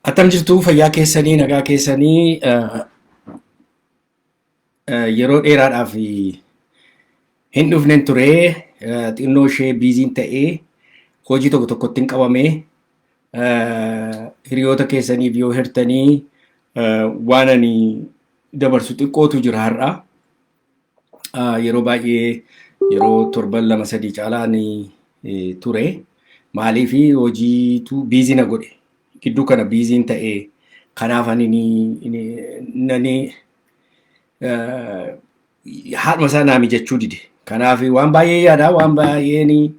Akkam jirtu fayyaa keessanii nagaa keessanii Yeroo dheeraadhaaf hin dhufnen ture xinnoo ishee biiziin ta'ee hojii tokko tokkotti hin qabame hiriyoota keessaniif yoo hirtanii waan ani dabarsu xiqqootu jira har'a. Yeroo baay'ee yeroo torban lama sadii caalaan ture maaliif hojiitu biizii na godhe gidduu kana biiziin ta'ee kanaaf ani haadhuma isaa naa mijachuu dide. Kanaaf waan baay'ee yaadaa, waan baay'een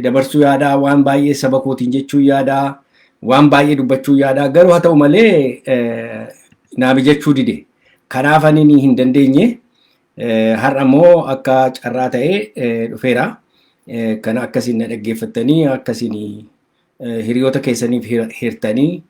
dabarsuu yaadaa, waan baay'ee saba kootiin jechuu yaadaa, waan baay'ee dubbachuu yaadaa. Garuu haa ta'u malee naa mijachuu dide. Kanaaf ani ni hin dandeenye. Har'a immoo akka carraa ta'ee dhufeera. Kan akkasiin na dhaggeeffattanii akkasiin hiriyoota keessaniif hirtanii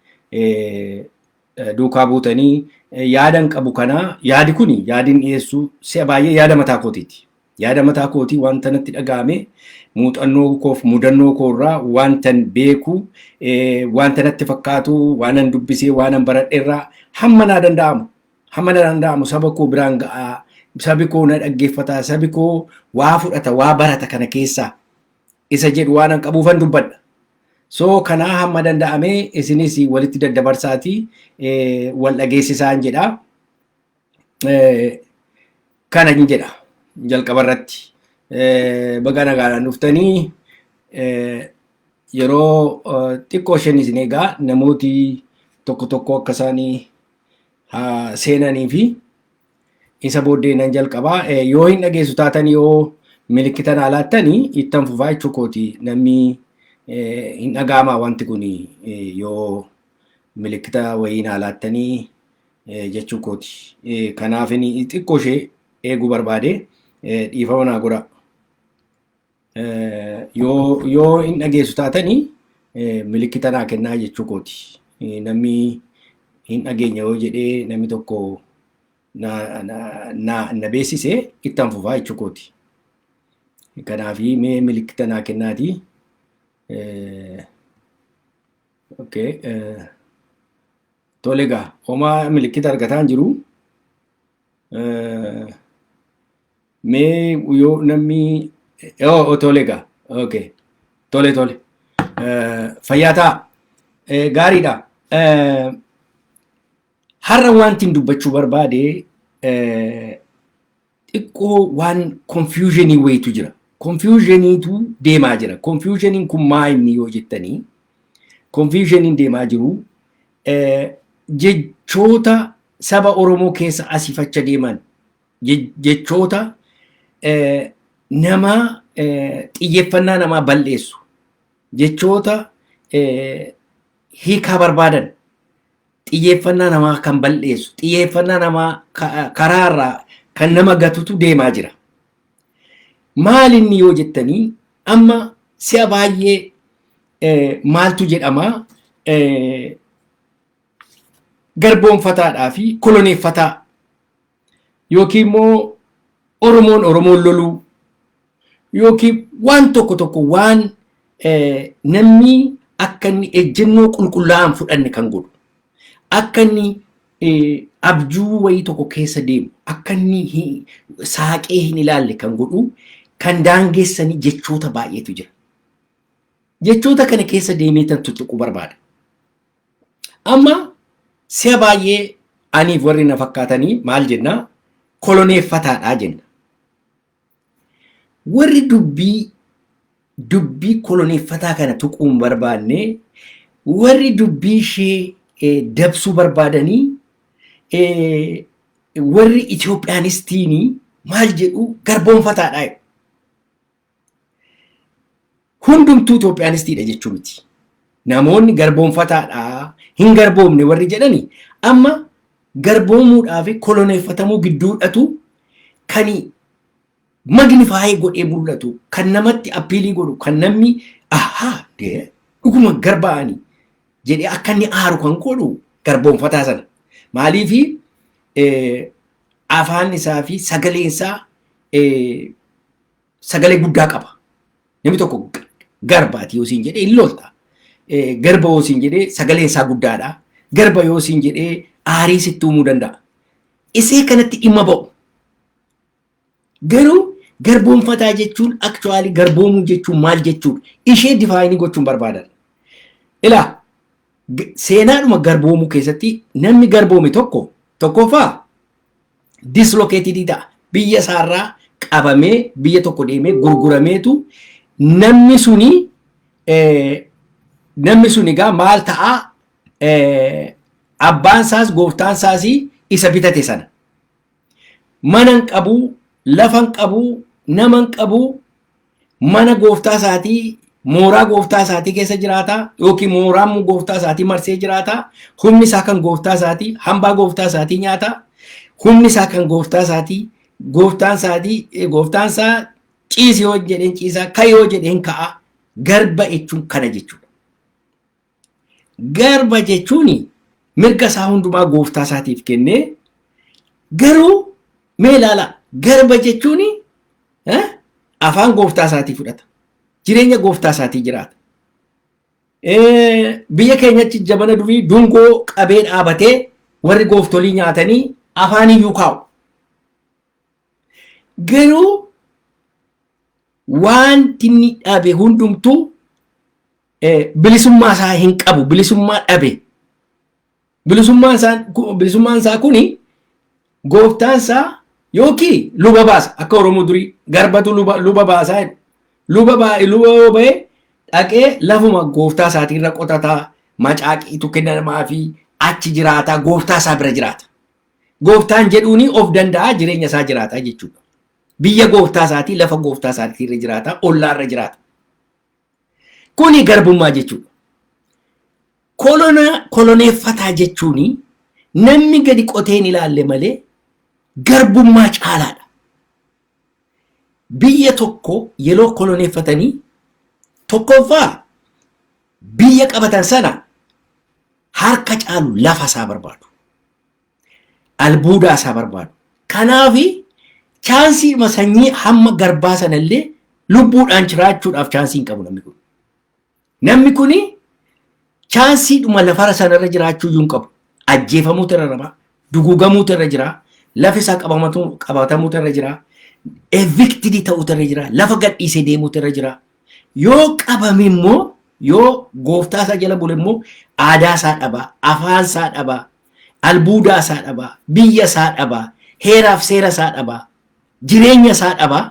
duukaa buutanii yaadan qabu kana yaadi kuni yaadin dhiyeessu si'a baay'ee yaada mataa kootiiti. Yaada mataa kootii wanta natti dhaga'ame muuxannoo koof mudannoo koorraa wantan beeku wanta natti fakkaatu waanan dubbisee waanan baradherraa hamma naa danda'amu hamma naa danda'amu saba koo biraan ga'aa sabi koo na dhaggeeffata sabi koo waa fudhata waa barata kana keessaa isa jedhu waanan qabuufan dubbadha. So kanaa hamma danda'ame isinis walitti daddabarsaati wal dhageessisaan jedha. Kana hin jedha jalqaba irratti. Baga nagaadhaan dhuftanii yeroo xiqqoo isheen isin egaa namooti tokko tokko akka isaanii seenanii fi Isa booddee nan jalqabaa yoo hin dhageessu taatan yoo milikkita naa laattanii ittan fufaa jechuu kooti namni hin dhagaamaa wanti kun yoo milikkita wayii naa laattanii jechuu kooti. Kanaaf xiqqoo ishee eeguu barbaade dhiifama naa godhaa. Yoo hin dhageessu taatanii milikkita naa kennaa jechuu kooti. Namni hin dhageenya yoo jedhee namni tokko na beeksise itti hanfufaa jechuu kooti. Kanaaf mee milikkita naa kennaati. Tole egaa homaa milikkita argataan jiru. Mee yoo namni yoo tole egaa okay tole tole Eh, fayyaa ta'a Eh, gaariidha. Eh, Har'a wanti hin dubbachuu barbaade eh, xiqqoo waan konfiyuuzhinii wayitu jira. Konfiyuuzhiniitu deemaa jira. Konfiyuuzhiniin kun maa inni yoo jettanii konfiyuuzhiniin deemaa jiru eh, jechoota saba Oromoo keessa asifacha deeman jechoota namaa xiyyeeffannaa namaa bal'eessu jechoota hiikaa barbaadan xiyyeeffannaa namaa kan bal'eessu xiyyeeffannaa namaa karaa irraa kan nama gatutu deemaa jira. Maal inni yoo jettanii amma si'a baay'ee maaltu jedhama garboonfataadhaa fi koloneeffataa yookiin immoo Oromoon Oromoon loluu yookiin waan tokko tokko waan namni akka inni ejjennoo qulqullaa'aan fudhanne kan godhu akka inni abjuu wayii tokko keessa deemu akka inni saaqee hin ilaalle kan godhu kan daangessanii jechoota baay'eetu jira. Jechoota kana keessa deemee tan tuttuquu barbaada. Amma si'a baay'ee aniif warri na fakkaatanii maal jenna koloneeffataadhaa jenna. Warri dubbii dubbii koloneeffataa kana tuquu hin barbaanne warri dubbii ishee eh, dabsuu barbaadanii eh, warri Itoophiyaanistiinii maal jedhu garboonfataadhaa jedhu. Hundumtuu Itoophiyaanistiidha jechuu miti. Namoonni garboonfataadha hin garboomne warri jedhani amma garboomuudhaa fi koloneeffatamuu gidduudhatu kan magnifaayee godhee mul'atu kan namatti appiilii godhu kan namni ahaa dhuguma garbaa'anii jedhee akka inni aaru kan godhu garboonfataa sana. Maaliifi afaan isaa fi sagaleen isaa eh, sagalee guddaa qaba. Namni tokko g- garbaati yoo siin jedhee hin lolta. Eh, Garba yoo siin jedhee sagaleen isaa guddaadha. Garba yoo siin jedhee aarii sitti uumuu danda'a. Isee kanatti dhimma ba'u. Garuu garboomfataa jechuun actually garboomuu jechuun maal jechuudha? Ishee difaayinii gochuun barbaadan. Ilaa g- seenaadhuma garboomuu keessatti namni garboome tokko tokkoffaa dislocated ta'a. Biyya isaarraa qabamee biyya tokko deemee gurgurameetu namni suni eh, namni sun egaa maal ta'a eh, abbaan isaas gooftaan isaas isa bitate sana Mana hin qabu, lafa hin qabu, nama hin qabu, mana gooftaa isaatii mooraa gooftaa isaatii keessa jiraata yookiin mooraa immoo gooftaa isaatii marsee jiraata. Humni isaa kan gooftaa isaatii, hambaa gooftaa isaatii nyaata. Humni isaa kan gooftaa isaatii, gooftaan isaatii, eh, gooftaan isaa ciisi yoo jedheen ciisaa, ka'i yoo jedheen ka'a. Garba jechuun kana jechuudha. Garba jechuun mirga isaa hundumaa gooftaa isaatiif kennee garuu mee ilaalaa garba jechuun eh, afaan gooftaa isaatii fudhata. Jireenya gooftaa isaatii jiraata. Eh, Biyya keenyatti jabana durii dungoo qabee dhaabatee warri gooftolii nyaatanii afaan iyyuu kaa'u. Garuu wanti inni dhabe hundumtuu bilisummaa isaa hin qabu bilisummaa dhabe bilisummaan isaa bilisummaan isaa kuni gooftaan isaa yookiin luba baasa akka oromoo durii garbatu luba luba baasaa jedhu luba baa luba yoo ba'e dhaqee lafuma gooftaa isaatii irra qotataa macaaqiitu kennamaa fi achi jiraataa gooftaa isaa bira jiraata gooftaan jedhuuni of danda'aa jireenya isaa jiraataa jechuudha biyya gooftaa isaatii lafa gooftaa isaatii irra jiraataa ollaa irra jiraata Kuni garbummaa jechuudha. Kolonaa koloneeffataa jechuun namni gadi qotee hin ilaalle malee garbummaa caalaadha. Biyya tokko yeroo koloneeffatanii tokkoffaa biyya qabatan sana harka caalu lafa isaa barbaadu. Albuudaa isaa barbaadu. Kanaaf chaansiidhuma sanyii hamma garbaa sana illee lubbuudhaan jiraachuudhaaf chaansii hin qabu namni kun. Namni kun chaansiidhuma lafara sanarra jiraachuu iyyuu hin qabu. Ajjeefamuutu irra jira, duguugamuutu irra jira, lafi isaa qabamatu- qabatamuutu irra jira, evictidii ta'uutu irra jira, lafa gadhiisee deemuutu irra jira. Yoo qabame immoo yoo gooftaa isaa jala bule immoo aadaa isaa dhaba, afaan isaa dhaba, albuudaa isaa dhabaa, biyya isaa dhabaa, heeraaf seera isaa dhabaa, jireenya isaa dhabaa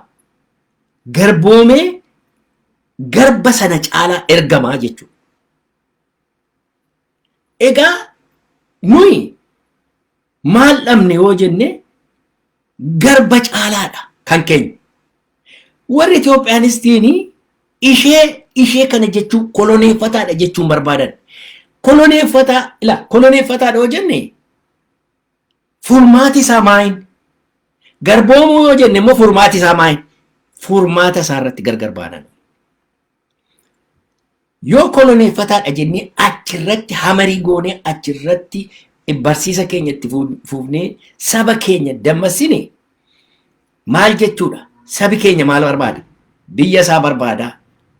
garboomee garba sana caalaa ergamaa jechuudha. Egaa nuyi maal dhabne yoo jenne garba caalaadha kan keenya. Warri Itoophiyaanistiini ishee ishee kana jechuun koloneeffataadha jechuun barbaadan. Koloneeffataa ila koloneeffataadha yoo jenne furmaati isaa maayin garboomuu yoo jenne immoo furmaati isaa maayin furmaata isaa irratti gargar baanan. Yoo koloneeffataadha jennee achirratti hamarii goonee achirratti barsiisa keenya itti fuufnee saba keenya dammassine maal jechuudha? Sabi keenya maal barbaada? Biyya isaa barbaada,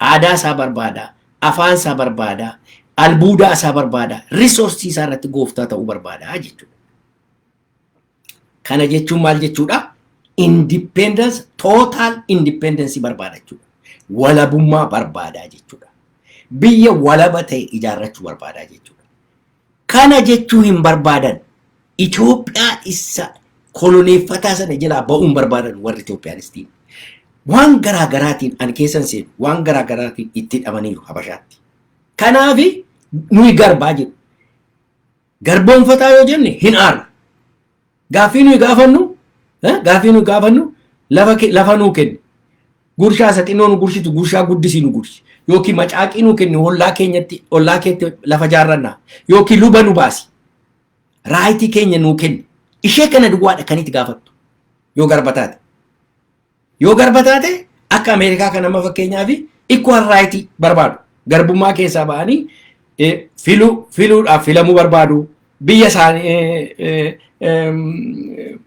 aadaa isaa barbaada, afaan isaa barbaada, albuudaa isaa barbaada, risoorsii isaa irratti gooftaa ta'uu barbaada jechuudha. Kana jechuun maal jechuudha? Independence, total independence barbaada jechuudha. Walabummaa barbaadaa jechuudha. Biyya walaba ta'e ijaarrachuu barbaadaa jechuudha. Kana jechuu hin barbaadan. Itoophiyaa isa koloneeffataa sana jalaa ba'uun barbaadan warri Itoophiyaanistiin. Waan garaa garaatiin ani keessan seenu waan garaa garaatiin itti hidhamaniiru Habashaatti. Kanaafi nuyi garbaa jedhu. garboomfataa yoo jenne hin aanu. Gaaffii nuyi gaafannu gaaffii nuyi gaafannu lafa lafa nuu kenni. Gurshaa isa xinnoo nu gurshitu gurshaa guddisii nu gurshi. Yookiin macaaqii nuu kenni ollaa keenyatti ollaa keetti lafa jaarrannaa. Yookiin luba nu baasi. Raayitii keenya nuu kenni. Ishee kana duwwaadha kan itti gaafattu yoo garba taate. Yoo garba taate akka Ameerikaa kan amma fakkeenyaa fi equal right barbaadu. Garbummaa keessaa ba'anii eh, filuu filuudhaaf filamuu barbaadu. Biyya isaanii eh, eh, em,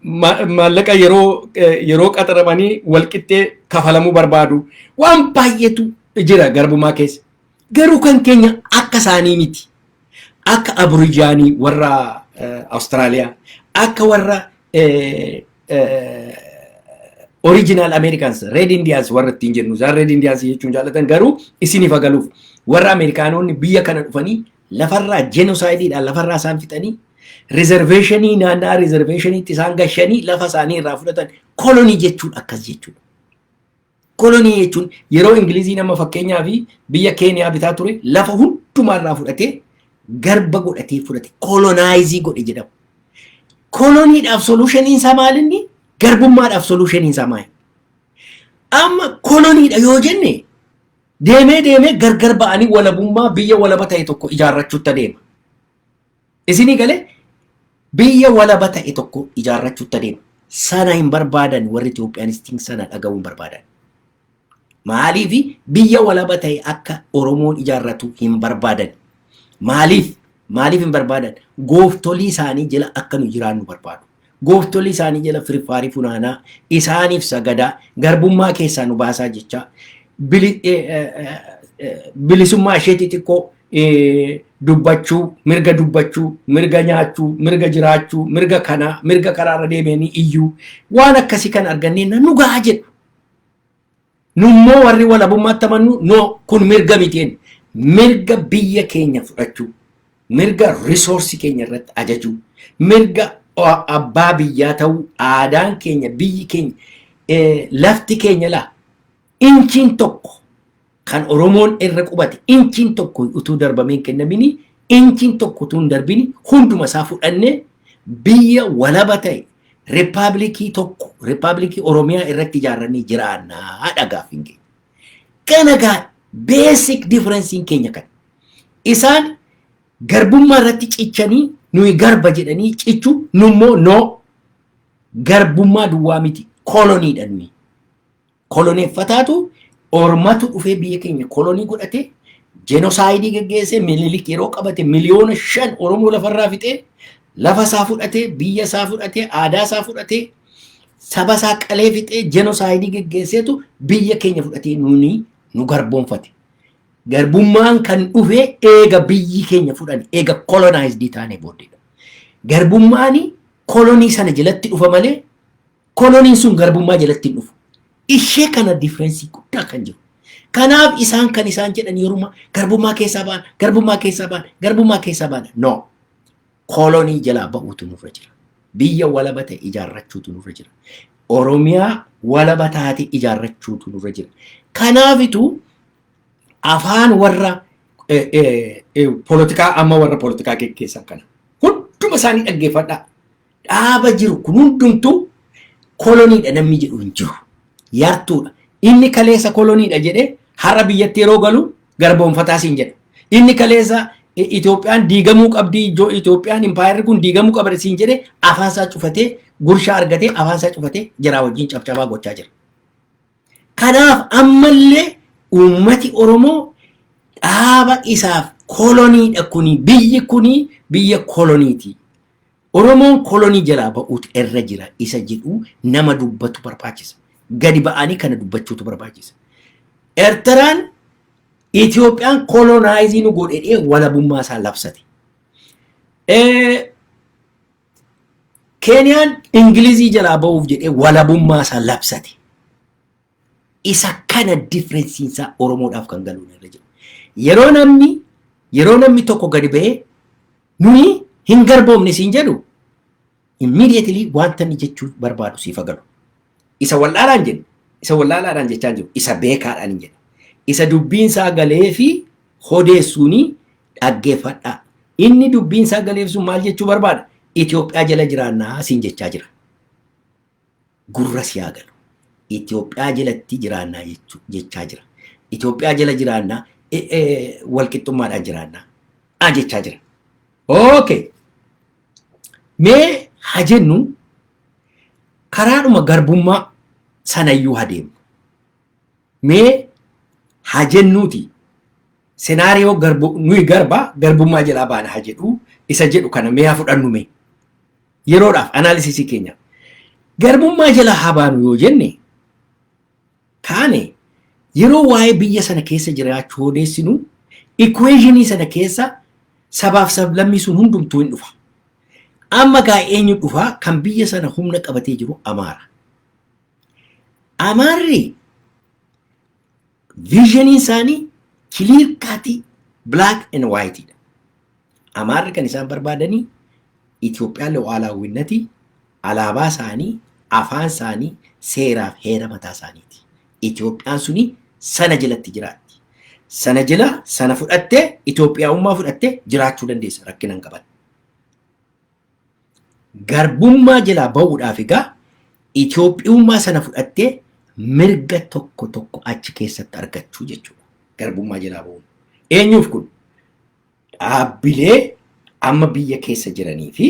ma- maallaqa yeroo eh, yeroo qaxaramanii walqixxee kafalamuu barbaadu. Waan baay'eetu jira garbummaa keessa. Garuu kan keenya akka isaanii miti. Akka Aborijaanii warra Awustiraaliyaa, akka warra original Americans, Red Indians warra ittiin jennu, isaan Red Indians jechuun jaalatan garuu isiniif agaluuf warra Ameerikaanonni biyya kana dhufanii lafarraa jenoosaaydiidhaan lafarraa isaan fixanii riizerveeshinii naannaa riizerveeshiniitti isaan gashanii lafa isaanii irraa fudhatan kolonii jechuun akkas jechuudha. Kolonii jechuun yeroo Ingiliziin amma fakkeenyaaf biyya Keeniyaa bitaa ture lafa hundumaa irraa fudhatee garba godhatee fudhate kolonaayiizii godhe jedhama. Koloniidhaaf soluushiniin isaa maal inni? Garbummaadhaaf soluushiniin isaa maal? Amma koloniidha yoo jenne deemee deemee gargar ba'anii walabummaa biyya walaba ta'e tokko ijaarrachuutti adeema. Isinii galee biyya walaba ta'e tokko ijaarrachuutti adeema. Sana hin barbaadan warri Itoophiyaanistiin sana dhaga'uu hin barbaadan. Maaliif biyya walaba ta'e akka Oromoon ijaarratu hin barbaadan. Maaliif maaliif hin barbaadan gooftolii isaanii jala akka nu jiraannu barbaadu. Gooftolii isaanii jala firfaarii funaanaa, isaaniif sagadaa, garbummaa keessaa nu baasaa jechaa, bili- eh, eh, eh, eh, bilisummaa ishee xixiqqoo eh, dubbachuu, mirga dubbachuu, mirga nyaachuu, mirga jiraachuu, mirga kanaa, mirga karaarra deemanii iyyuu waan akkasii kan argannee nu gahaa jedhu. Nummoo warri walabummaatti amannu no kun mirga miti jenna. Mirga biyya keenya fudhachuu, mirga risoorsii keenya irratti ajajuu, mirga a- abbaa biyyaa ta'uu, aadaan keenya, biyyi keenya, eh, lafti keenya laa inchiin tokko kan Oromoon irra qubate inchiin tokko utuu darbamee hin kennamini inchiin tokko utuu hin darbini hunduma isaa fudhannee biyya walaba ta'e rippaabilikii tokko rippaabilikii Oromiyaa irratti ijaarranii jiraannaa dhagaaf hin geenye. Kana gaa beesik difirensiin keenya kana. Isaan garbummaa irratti cichanii nuyi garba jedhanii cichu nummoo noo garbummaa duwwaa miti koloniidha nuyi. Koloneeffataatu ormatu dhufee biyya keenya kolonii godhatee jenosaayidii geggeessee mililik yeroo qabate miliyoona shan Oromoo lafarraa fixee lafa isaa fudhatee biyya isaa fudhatee aadaa isaa fudhatee saba isaa qalee fixee jenosaayidii geggeesseetu biyya keenya fudhatee nuuni nu garboonfate. Garbummaan kan dhufee eega biyyi keenya fudhani eega kolonaayizdii taanee booddeedha. Garbummaani kolonii sana jalatti dhufa malee Koloniin sun garbummaa jalatti hin dhufu. Ishee kana differensi guddaa kan jiru. Kanaaf isaan kan isaan jedhan yeruma garbummaa keessaa ba'an, garbummaa keessaa ba'an, garbummaa keessaa ba'an. No. Kolonii jalaa ba'uutu nurra jira. Biyya walaba ta'e ijaarrachuutu nurra jira. Oromiyaa walaba taate ijaarrachuutu nurra jira. Kanaafitu afaan warra polotikaa amma warra polotikaa geggeessan kana hunduma isaanii dhaggeeffadhaa. dhaaba jiru kun hundumtuu koloniidha namni jedhu hin jiru. Yartuudha. Inni kaleessa koloniidha jedhee har'a biyyatti yeroo galu garboonfataa siin jedha. Inni kaleessa I- Itoophiyaan diigamuu qabdi ijoo Itoophiyaan impaayerri kun diigamuu qabdi siin jedhee afaan isaa cufatee gurshaa argatee afaan isaa cufatee jaraa wajjin cabcabaa gochaa jira. Kanaaf ammallee uummati Oromoo dhaaba isaaf koloniidha kuni biyyi kuni biyya koloniiti. Oromoon kolonii jalaa ba'uutu irra jira isa jedhu nama dubbatu barbaachisa. Gadi ba'anii kana dubbachuutu barbaachisa. Ertaraan Itoophiyaan kolonaaizii nu godhedhee walabummaa isaa labsate. Keeniyaan Ingilizii jalaa ba'uuf jedhee walabummaa isaa labsate. Isa kana differensiin isaa Oromoodhaaf kan galu irra jira. Yeroo namni yeroo namni tokko gadi ba'ee nuyi hin garboomne siin jedhu immediately wanta inni jechuu barbaadu siif haa galu. Isa wallaalaan jedhu isa wallaalaadhaan jechaa jiru isa beekaadhaan hin jedhu. Isa dubbiin isaa galee fi hodeessuuni dhaggeeffadhaa. Inni dubbiin isaa galeef sun maal jechuu barbaada? Itoophiyaa jala jiraannaa siin jechaa jira. gurra si haa galu. Itoophiyaa jalatti jiraannaa jechu- jechaa jira. Itoophiyaa jala jiraannaa e- e- walqixxummaadhaan jiraannaa a jechaa jira. Okay. Mee haa jennu karaadhuma garbummaa sanayyuu haa deemnu. Mee haa jennuuti senaariyoo garbu nuyi garba garbummaa jalaa baana haa jedhu isa jedhu kana mee haa fudhannu mee. Yeroodhaaf anaalisisii keenya garbummaa jala haa baanu yoo jenne kaane yeroo waa'ee biyya sana keessa jiraachuu odeessinu ikuweeshinii sana keessa sabaaf sablammii sun hundumtuu hin dhufa. Amma gaa eenyu dhufaa kan biyya sana humna qabatee jiru Amaara. Amaarri Viizhiniin isaanii kiliir kaatii black and white dha. Amaarri kan isaan barbaadanii Itoophiyaan lu'aalaawwinnatii alaabaa isaanii, afaan isaanii, seeraa fi heera mataa isaaniiti. Itoophiyaan suni sana jalatti jiraatti. Sana jala sana fudhattee Itoophiyaa'ummaa fudhattee jiraachuu dandeessa rakkina hin qaban. Garbummaa jalaa ba'uudhaaf egaa Itoophiyummaa sana fudhattee mirga tokko tokko achi keessatti argachuu jechuudha. Garbummaa jalaa ba'uun. Eenyuuf kun? Dhaabbilee amma biyya keessa jiranii fi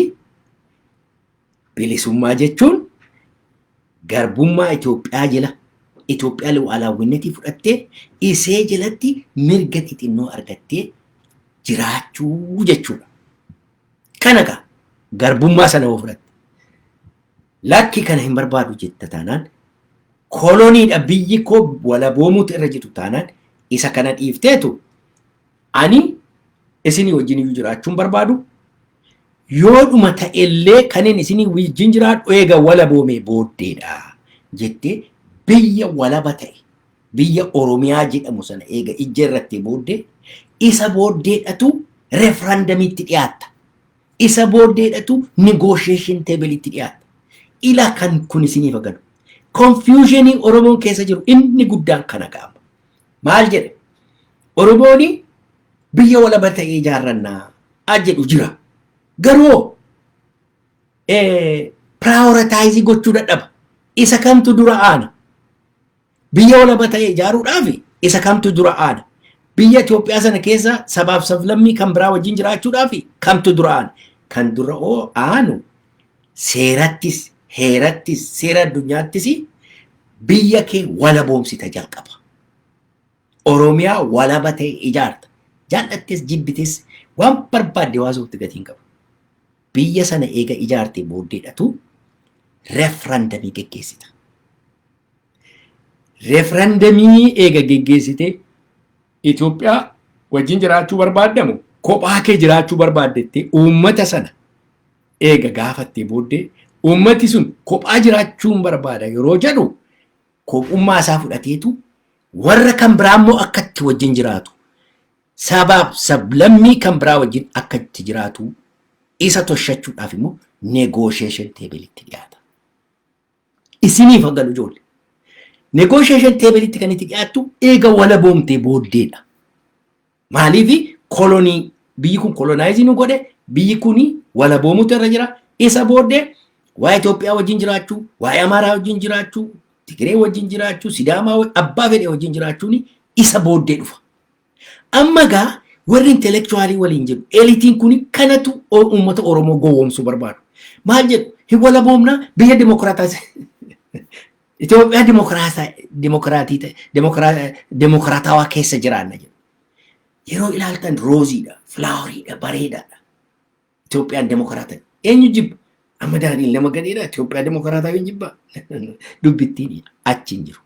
bilisummaa jechuun garbummaa Itoophiyaa jala Itoophiyaa lu'aalaawwinnatii fudhattee isee jalatti mirga xixinnoo argattee jiraachuu jechuudha. Kana gaa garbummaa sana yoo fudhatte lakki kana hin barbaadu jetta taanaan koloniidha biyyi koo walaboomuutu irra jiru taanaan isa kana dhiifteetu ani isinii wajjin iyyuu jiraachuun barbaadu yoodhuma ta'ellee kanin isinii wajjin jiraadhu eega walaboomee booddeedha jettee biyya walaba ta'e biyya Oromiyaa jedhamu sana eega ijja irratti booddee isa booddeedhatu referandamiitti dhiyaatta. Isa booddeedhatu negotiation table'itti dhiyaatta. Ila kan kun isiniif galu. Confusionii Oromoon keessa jiru inni guddaan kana gaama. Maal jedha? Oromooni biyya walaba ta'ee ijaarrannaa a jedhu jira. Garuu prioritize gochuu dadhaba. Isa kamtu dura aana? Biyya walaba ta'e ijaaruudhaaf isa kamtu dura aana? Biyya Itoophiyaa sana keessa sabaaf sablammii kan biraa wajjin jiraachuudhaaf kamtu dura aana? Kan dura oo aanu seerattis, heerattis, seera addunyaattis biyya kee walaboomsita jalqaba. Oromiyaa walaba ta'e ijaarta. Jaallattis jibbitis waan barbaadde waasuutti gatii hin qabu. Biyya sana eega ijaartee booddeedhatu referandamii geggeessita. referendamii eega geggeessitee Itoophiyaa wajjin jiraachuu barbaaddamu kophaa kee jiraachuu barbaaddettee uummata sana eega gaafattee booddee uummati sun kophaa jiraachuun barbaada yeroo jedhu kophummaa isaa fudhateetu warra kan biraa immoo akka itti wajjin jiraatu sabaaf sablammii kan biraa wajjin akka itti jiraatu isa toshachuudhaaf immoo negoosheeshin teebilitti dhiyaata. Isiniif haa galu ijoollee. Negotiation table tti kan itti dhiyaattu eega walaboomtee booddeedha. Maaliif kolonii biyyi kun kolonaayizi nu godhe biyyi kun walaboomuutu irra jira. Isa booddee waa'ee Itoophiyaa wajjin jiraachuu, waa'ee Amaaraa wajjin jiraachuu, Tigiree wajjin jiraachuu, Sidaamaa wajjin abbaa fedhe wajjin jiraachuun isa booddee dhufa. Amma egaa warri intellectualii waliin jiru elitiin kuni kanatu o- uummata Oromoo gowwoomsuu barbaadu. Maal jedhu hin walaboomnaa biyya dimokiraataas Itoophiyaa dimokiraasaa dimokiraatii ta'e dimokira- dimokiraatawaa keessa jiraanna jedhu. Yeroo ilaaltan rooziidha, filaawariidha, bareedaadha. Itoophiyaan dimokiraata eenyu jibba? Amma daadhiin nama gadheedha Itoophiyaa dimokiraataa hin jibba. Dubbittiin achi hin jiru.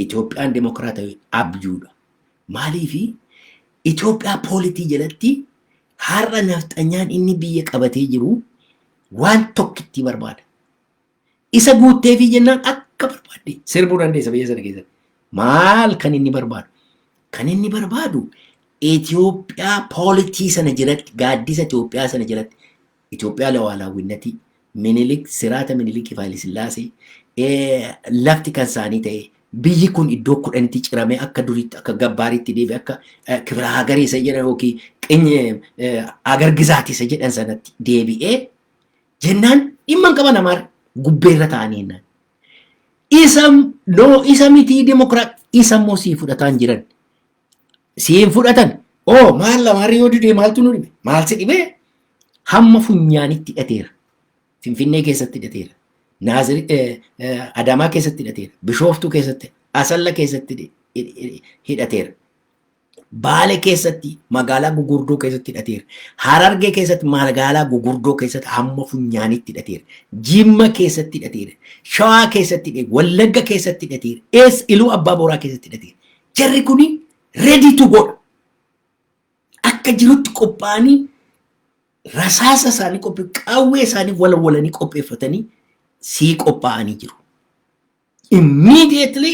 Itoophiyaan demokraatawi abjuudha. Maaliifi Itoophiyaa poolitii jalatti har'a nafxanyaan inni biyya qabatee jiru waan tokkittii barbaada. Isa guutteefii jennaan akka barbaadde sirbuu dandeessa biyya sana keessatti. Maal kan inni barbaadu? Kan inni barbaadu Itoophiyaa poolitii sana jalatti gaaddisa Itoophiyaa sana jalatti Itoophiyaa Lawaalawwinnati Minilik Siraata Minilikiif Haayilisillaasee lafti kan saanii ta'ee biyyi kun iddoo kudhanitti ciramee akka duriitti akka gabbaariitti deebi akka kibira hagarii isa jedhan yookiin qinye agar gizaati isa jedhan sanatti deebi'ee jennaan dhimma hin qaban amaar gubbeerra ta'anii jennaan. Isa noo isa mitii dimokiraat isa immoo sii fudhataan jiran sii hin fudhatan oo maal lamaarri yoo didee maaltu nu dhibe maal si dhibee hamma funyaanitti hidhateera finfinnee keessatti hidhateera naaziri adaamaa keessatti hidhateera bishooftuu keessatti asalla keessatti hidhateera baale keessatti magaalaa gugurdoo keessatti hidhateera harargee keessatti magaalaa gugurdoo keessatti hamma funyaanitti hidhateera jimma keessatti hidhateera shawaa keessatti hidhateera wallagga keessatti hidhateera ees iluu abbaa booraa keessatti hidhateera Jarri kun ready to godha. Akka jirutti qophaa'anii rasaasa isaanii qophii qaawwee isaanii walawalanii qopheeffatanii sii qophaa'anii jiru. Immediately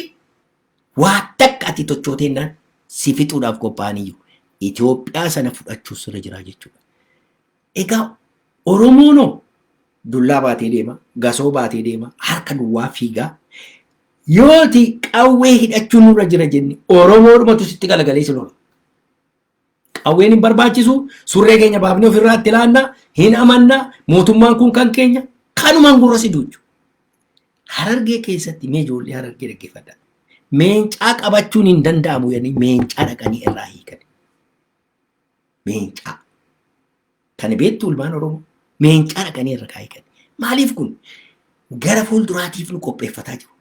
waa takka ati tochooteennaan si fixuudhaaf qophaa'anii jiru. Itoophiyaa sana fudhachuus irra jira jechuudha. Egaa Oromoon hoo dullaa baatee deema, gasoo baatee deema, harka duwwaa fiigaa. Yooti qawwee hidhachuu nurra jira jenne Oromoodhumatu sitti galagalee si lola. Qawween hin barbaachisu, surree keenya baafnee ofirraa itti laanna, hin amanna, mootummaan kun kan keenya, kanumaan gurra si duuchu. Harargee keessatti mee ijoollee harargee dhaggeeffadha. Meencaa qabachuun hin danda'amu jedhanii meencaa dhaqanii irraa hiikan. Meencaa. Tani beektu ilmaan Oromoo meencaa dhaqanii irra kaa'ee kan. Maaliif kun gara fuulduraatiif nu qopheeffataa jiru.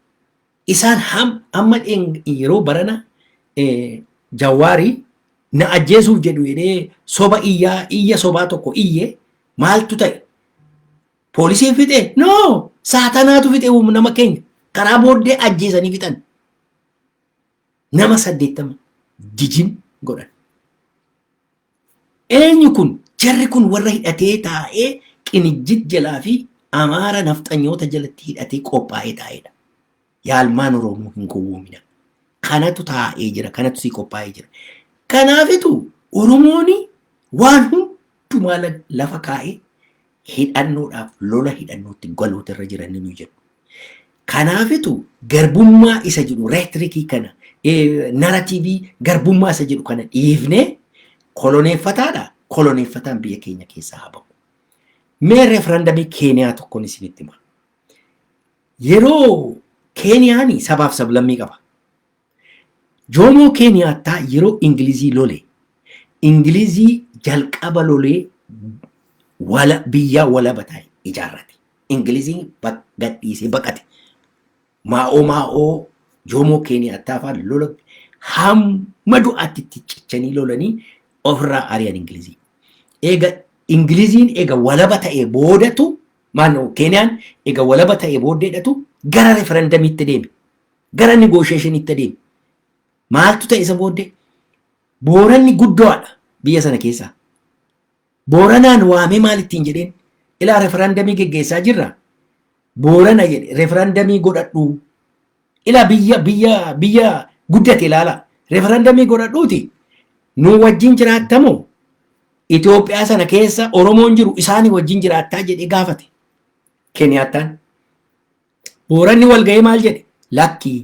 Isaan ham amma yeroo barana jawaarii na ajjeesuuf jedhu jedhee soba iyyaa iyya sobaa tokko iyye maaltu ta'e? Poolisiin fixe? No! Saatanaatu fixe nama keenya. Karaa booddee ajjeesanii fixan. nama saddeettama jijin godhan. Eenyu kun jarri kun warra hidhatee taa'ee qinijjit jalaa fi amaara nafxanyoota jalatti hidhatee qophaa'ee taa'edha. Yaalmaan Oromoo hin gowwoomina. Kanatu taa'ee jira, kanatu sii qophaa'ee jira. Kanaafitu Oromooni waan hundumaa lafa kaa'ee hidhannoodhaaf lola hidhannootti galuutu irra jira inni nuyi jedhu. Kanaafitu garbummaa isa jedhu reetirikii kana naratiivii garbummaa isa jedhu kana dhiifnee koloneeffataadha koloneeffataan biyya keenya keessaa haa bahu. Mee referandamii Keeniyaa tokkoon isinitti hima. Yeroo Keeniyaan sabaaf sablammii qaba. Joomoo Keeniyaattaa yeroo Ingilizii lole, Ingilizii jalqaba lolee wala biyyaa walaba tahe ijaarrate. Ingiliziin bak gad dhiisee baqate. Maa'oo Maa'oo Joomoo Keeniyaattaa faan lola hamma du'aatti itti cichanii lolanii ofirraa ari'an Ingilizii. Eega Ingiliziin eega walaba ta'ee boodatu maannoo Keeniyaan eega walaba ta'ee booddeedhatu gara referendamiitti deeme. gara negotiationitti adeeme. Maaltu ta'e isa booddee? Booranni guddoodha biyya sana keessaa. Booranaan waamee maal ittiin jedheen? Ilaa referandamii geggeessaa jirra. Boorana jedhe referandamii godhadhu. Ilaa biyya biyya biyya guddate ilaala. Referandamii godhadhuuti nuu wajjin jiraattamoo Itoophiyaa sana keessa Oromoon jiru isaanii wajjin jiraattaa jedhee gaafate. Keniyaattaan. Booranni wal ga'ee maal jedhe? Lakki.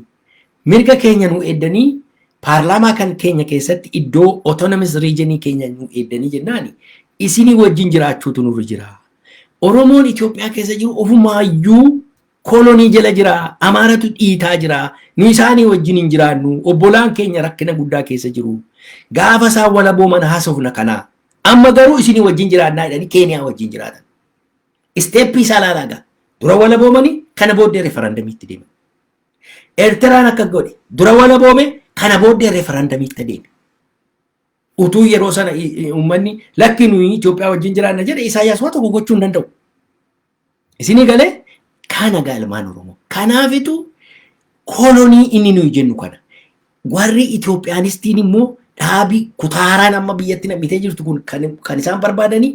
Mirga keenya nu eeddanii paarlaamaa kan keenya keessatti iddoo autonomous region keenya nu eeddanii jennaani isinii wajjin jiraachuutu nurra jira. Oromoon Itoophiyaa keessa jiru ofumaayyuu kolonii jala jira, Amaaratu dhiitaa jira, nu isaanii wajjin hin jiraannu, obbolaan keenya rakkina guddaa keessa jiru. Gaafa isaan walabooman haasofna kana. Amma garuu isinii wajjin jiraannaa jedhanii Keeniyaa wajjin jiraatan. Isteeppii isaa ilaalaa gaa. Dura walaboomanii kana booddee referandamiitti deeman. Eertiraan akka godhe dura walaboome kana booddee referandamiitti deeme. Utuu yeroo sana uummanni lakki nuyi Itoophiyaa wajjin jiraanna jedhe Isaayyaas waa tokko gochuu hin danda'u. Isinii galee kana gaa ilmaan Oromoo. Kanaafitu kolonii inni nuyi jennu kana. Warri Itoophiyaanistiin immoo dhaabi kutaaraan amma biyyatti nam'itee jirtu kun kan isaan barbaadanii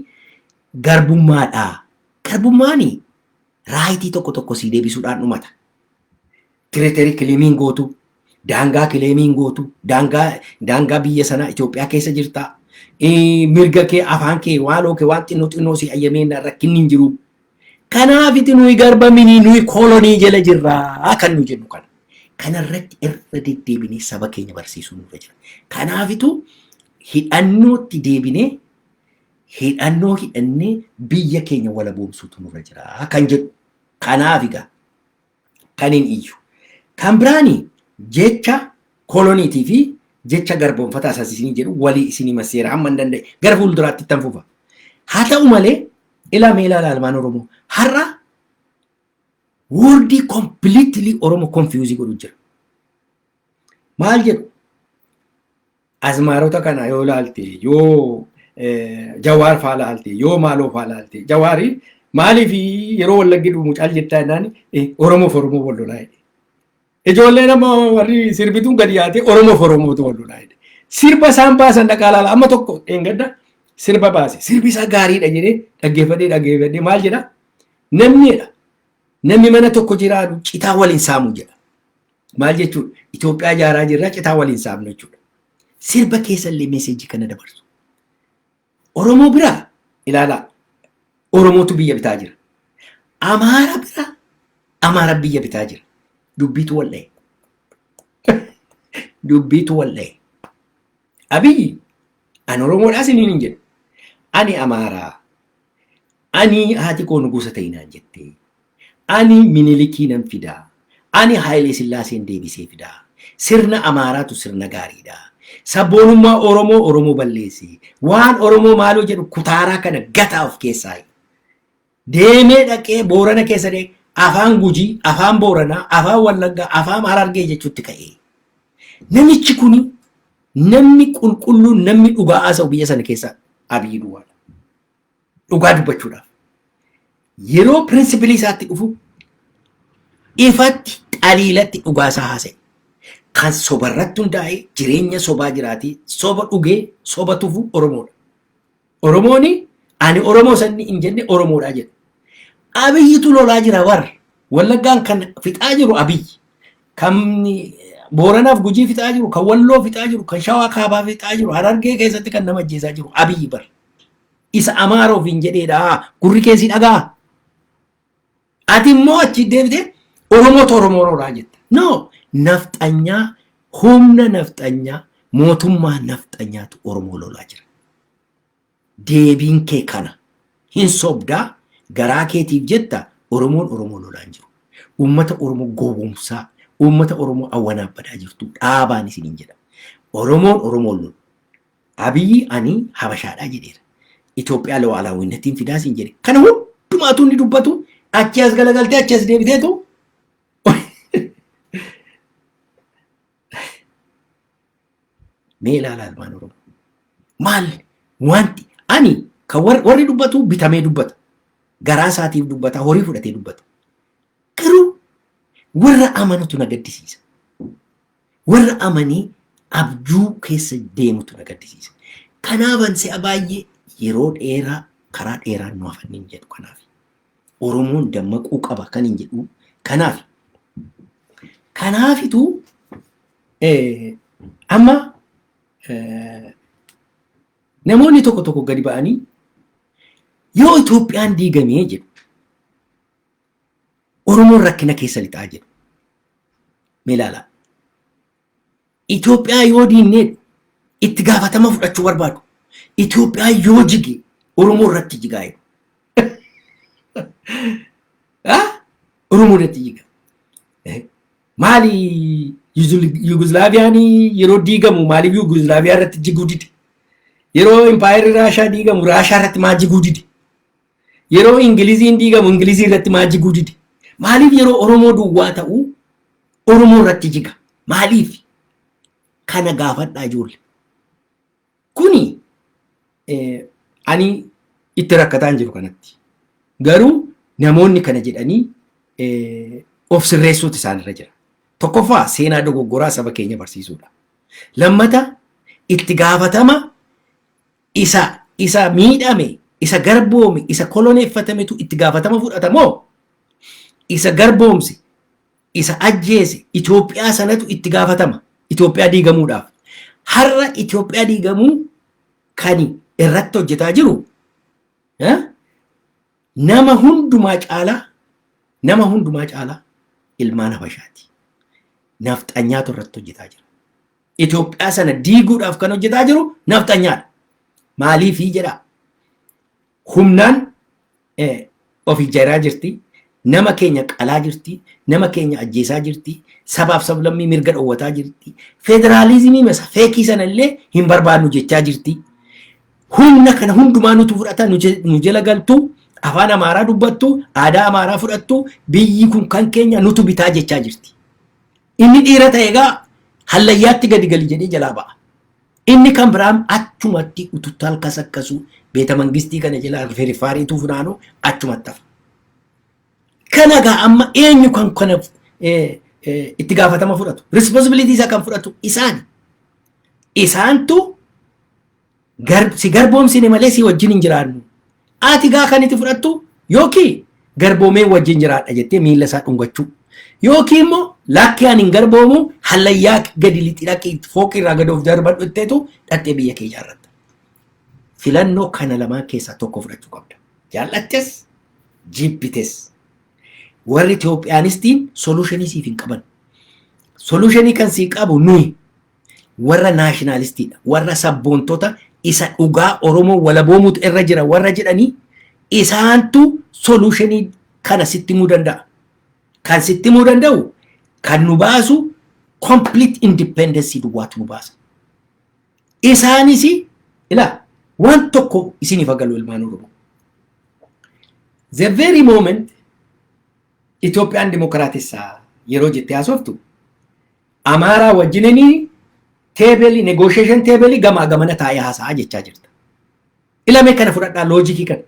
Garbummaa dha. Garbummaan raayitii tokko tokko sii deebisuudhaan dhumata. Tiriterii kileemiin gootu, daangaa kileemiin gootu, daangaa daangaa biyya sanaa Itoophiyaa keessa jirta. Eh, Mirga kee, afaan kee, waaloo kee waan xinnoo xinnoo sii ayyamee na- rakkinni hin jiru. Kanaafiti nuyi garba minii nuyi kolonii jala jirra kan nu jennu kana. Kanarratti irra deddeebinee saba keenya barsiisuu nurra jira. Kanaafitu hidhannootti deebinee hidhannoo hidhannee biyya keenya walaboomsuutu nurra jira kan jedhu. Kanaaf egaa kan hin iyyu. Kan biraani jecha koloniitii fi jecha garboomfataa isaas isinii jedhu walii isinii masseera hamma hin danda'e gara fuulduraatti ittan fufa. Haa ta'u malee ilaa mee ilaala almaan Oromoo har'a woordii kompiliitilii Oromoo konfiyuuzii godhu jira. Maal jedhu? Azmaarota kana yoo laalte yoo jawaar faa laalte yoo maaloo faa laalte jawaari maaliif yeroo wallaggi dhumu caal jettaa jennaan oromoof oromoo wal lolaa jedhe. Ijoolleen amma warri sirbituun gadi yaatee oromoof oromootu wal lolaa jedhe. Sirba isaan baasan dhaqaa laala amma tokko dheengadda sirba baase sirbi isaa gaariidha jedhee dhaggeeffadhee dhaggeeffadhee maal jedha namni jedha namni mana tokko jiraatu citaa waliin saamu jedha. Maal jechuudha? Itoophiyaa ijaaraa jirra citaa waliin saamnu jechuudha. Sirba keessa illee meeseejii kana dabarsu. Oromoo bira ilaalaa Oromootu biyya bitaa jira. Amaara bira Amaara biyya bitaa jira. Dubbiitu wal dha'e. Dubbiitu wal dha'e. Abiyyi an Oromoodhaa siniin hin jedhu. Ani Amaaraa Ani haati koo nugusa ta'i naan jettee. Ani Minilikii nan fidaa. Ani Haayilee Sillaaseen deebisee fidaa. Sirna Amaaraatu sirna gaariidha. Sabboonummaa Oromoo Oromoo balleesse. Waan Oromoo maaloo jedhu kutaaraa kana gataa of keessaayi. Deemee dhaqee Boorana keessa deemee afaan Gujii, afaan Booranaa, afaan Wallaggaa, afaan Harargee jechuutti ka'ee. Namichi kuni namni qulqulluun namni dhugaa haasa'u biyya sana keessa Abiy Duwwaadha. Dhugaa dubbachuudhaaf yeroo pirinsipilii isaatti dhufu ifatti xaliilatti dhugaa isaa haasa'e. Kan soba irratti hundaa'e jireenya sobaa jiraatii soba dhugee soba tufu Oromoodha. Oromoon ani Oromoo sanni hin jenne Oromoodha jedha. Abiyyitu lolaa jira warra. Wallaggaan kan fixaa jiru Abiyyi. Kan Booranaaf Gujii fixaa jiru, kan Walloo fixaa jiru, kan Shawaa Kaabaa fixaa jiru, Harargee keessatti kan nama ajjeesaa jiru Abiyyi bara. isa amaara ofiin jedheedha gurri kee si dhagaa ati immoo achi deebite oromoo to oromoo roodhaa jetta no nafxanyaa humna nafxanyaa mootummaa nafxanyaatu oromoo lolaa jira deebiin kee kana hin sobdaa garaa keetiif jetta oromoon oromoo lolaa hin jiru uummata oromoo gowwoomsaa uummata oromoo awwanaa badaa jirtu dhaabaan isiniin jedha oromoon oromoon lolu Abiyi ani habashaadhaa jedheera. Itoophiyaa lu'aalaawwinnattiin fidaa siin jedhe. Kana hundumaatuu inni dubbatu achi as galagaltee achi as deebiteetu mee ilaala ilmaan Oromoo. Maal wanti ani kan warri, warri dubbatu bitamee dubbata. Garaa isaatiif dubbata, horii fudhatee dubbata. Garuu warra amanutu na gaddisiisa. Warra amanii abjuu keessa deemutu na gaddisiisa. Kanaaban si'a baay'ee yeroo dheeraa karaa dheeraan nu hafan hin jedhu kanaaf. Oromoon dammaquu qaba kan hin jedhu kanaaf. Kanaafitu eh, amma eh, namoonni tokko tokko gadi ba'anii yoo Itoophiyaan diigamee jedhu Oromoon rakkina keessa lixaa jedhu. Mee ilaalaa. Itoophiyaa yoo diinnee itti gaafatama fudhachuu barbaadu. Itoophiyaa yoo jige Oromoo irratti jigaa jedhu. Oromoo irratti jiga. Maali Yuguslaaviyaan yeroo diigamu maaliif Yuguslaaviyaa irratti jiguu dide? Yeroo impaayerri Raashaa diigamu Raashaa irratti maa jiguu dide? Yeroo Ingiliziin diigamu Ingilizii irratti maa jiguu dide? Maaliif yeroo Oromoo duwwaa ta'u Oromoo irratti jiga? Maaliif? Kana gaafadhaa ijoolle. Kuni eh, ani itti rakkataa hin jiru kanatti. Garuu namoonni kana jedhanii eh, of sirreessuutu isaanirra jira. Tokkoffaa seenaa dogoggoraa saba keenya barsiisuudha. Lammata itti gaafatama isa isa miidhame, isa garboome, isa koloneeffatametu itti gaafatama fudhata moo isa garboomse, isa ajjeese Itoophiyaa sanatu itti gaafatama Itoophiyaa diigamuudhaaf. Har'a Itoophiyaa diigamuu kan irratti hojjetaa jiru eh, nama hundumaa caalaa nama hundumaa caalaa ilmaan Habashaati. Nafxanyaatu irratti hojjetaa jira. Itoophiyaa sana diiguudhaaf kan hojjetaa jiru nafxanyaadha. Maaliifii jedhaa? Humnaan of ijaaraa jirti, nama keenya qalaa jirti, nama keenya ajjeesaa jirti, sabaaf sablammii mirga dhowwataa jirti, federaalizimii masa feekii sana illee hin barbaadnu jechaa jirti. Humna kana hundumaa nutu fudhata, nu jala galtu, afaan Amaaraa dubbattu, aadaa Amaaraa fudhattu, biyyi kun kan keenya nutu bitaa jechaa jirti. Inni dhiira ta'e egaa hallayyaatti gadi gali jedhee jalaa ba'a. Inni kan biraan achumatti ututtal kasakkasu beeta mangistii kana jala firiffaariituu funaanu achumatti hafa. Kana egaa amma eenyu kan kana eh, eh, itti gaafatama fudhatu? Responsibility isaa kan fudhatu isaani. Isaantu gar, si garboomsine malee si wajjin hin jiraannu. Ati gaa kan itti fudhattu yookiin garboomee wajjin jiraadha jettee miila isaa dhungachuu. Yookiin immoo lakkii ani hin garboomu hallayyaa gadi lixi dhaqi fooqii irraa gadi of darbadhu jetteetu dhattee biyya kee ijaarratta. Filannoo kana lamaan keessaa tokko fudhachuu qabda. Jaallattes jibbites. Warri Itoophiyaanistiin soluushinii siif hin qaban. Soluushinii kan sii qabu nuyi. warra naashinaalistiidha, warra sabboontota isa dhugaa Oromoo walaboomuutu irra jira warra jedhanii isaantu soluushinii kana sitti himuu danda'a. Kan sitti himuu danda'u kan nu baasu complete independence duwwaatu nu baasa. Isaanis ilaa waan tokko isiniif agarsiisu ilmaan Oromoo. The very moment Itoophiyaan dimokiraatessa yeroo jettee haasoftu Amaaraa wajjinini teebelii negoosheeshin teebelii gamaa gamana taa'ee haasa'a jechaa jirta. Ilamee kana fudhadhaa loojikii kana.